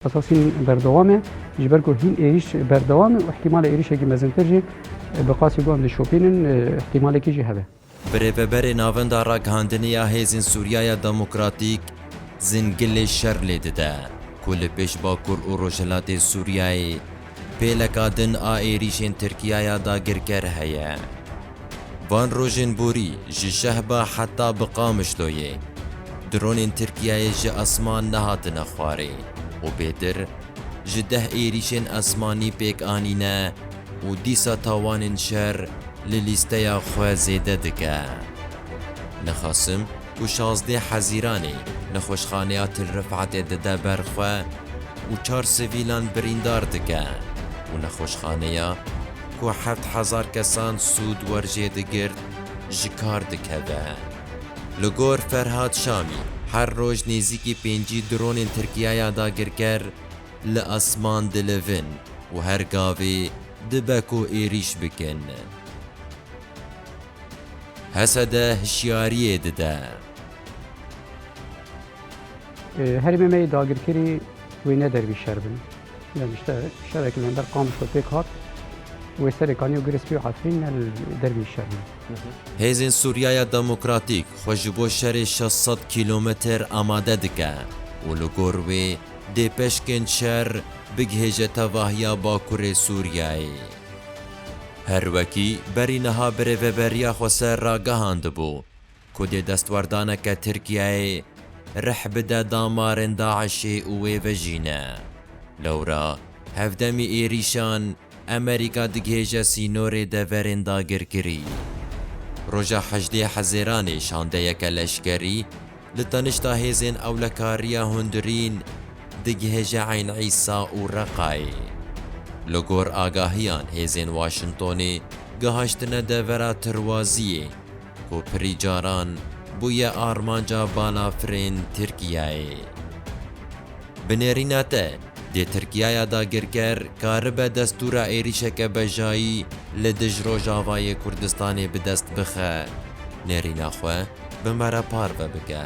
Asasîn berdewam e, ji ber ku hîn êrîş berdewam e û îhtîmalê êrîşekî mezintir jî bi qasî guhan dişopînin îhtîmalekî jî hebe. Bi rêveberê Navenda Ragihandinê ya Hêzên Sûriyaya Demokratîk, Zingilê şer lê dide ku li pêş Bakur û Rojhilatê Sûriyayê, Pêleka din a êrîşên Tirkiyaya dagirker heye. Van rojên borî ji Şehba heta bi Qamişloyê dronên Tirkiyeyê ji esman nehatine xwarê û bêtir ji deh êrîşên esmanî pêk anîne û dîsa tawanên şer li lîsteya xwe zêde dike. Nixasim. ku şazdeh Hezîranê nexweşxaneya Til Rifetê dide ber xwe û çar sivîlan birîndar dike û nexweşxaneya ku heft hezar kesan sûd werjê digirt ji kar dikeve. Li gor Ferhad Şamî her roj nêzîkî pêncî dronên Tirkiyaya dagirker li esman dilivin û her gavê dibe ku êrîş bikin. HSD hişyariyê dide. Herêmê me yê dagirkerî wê ne dervî şer bin. Yani işte şerekî li hember Qamiş xwe pêk hat. Wê serê kanî û Girespî û Efrîn ne li dervî şer bin. Hêzên Sûriyaya Demokratîk xwe ji bo şerê şeş sed kîlometr amade dike û li gor wê dê peşkên şer bigihêje tevahiya Bakurê Sûriyeyê. Her wekî berî niha birêveberiya xwe ser ragihandibû ku dê destwardaneke Tirkiyeyê rih bide damarên DAIŞ'ê û wê vejîne. Lewra hevdemî êrîşan Amerîka digihêje sînorê deverên dagirkirî. Roja hejdê Hezêranê şandeyeke leşkerî Li tanişta hêzên ewlekariya hundirîn digihe ji Eyn Îsa û Reqayê. Li gor agahiyan hêzên Waşintonê gihaştine devera Tirwaziyê ku pirî caran bûye armanca balafirên Tirkiyeyê. Bi nêrîna te Dê Tirkiyaya dagirker karibe destûra êrîşeke bejayî li dij Rojavayê Kurdistanê bi dest bixe. Nêrîna xwe bi me re parve bike.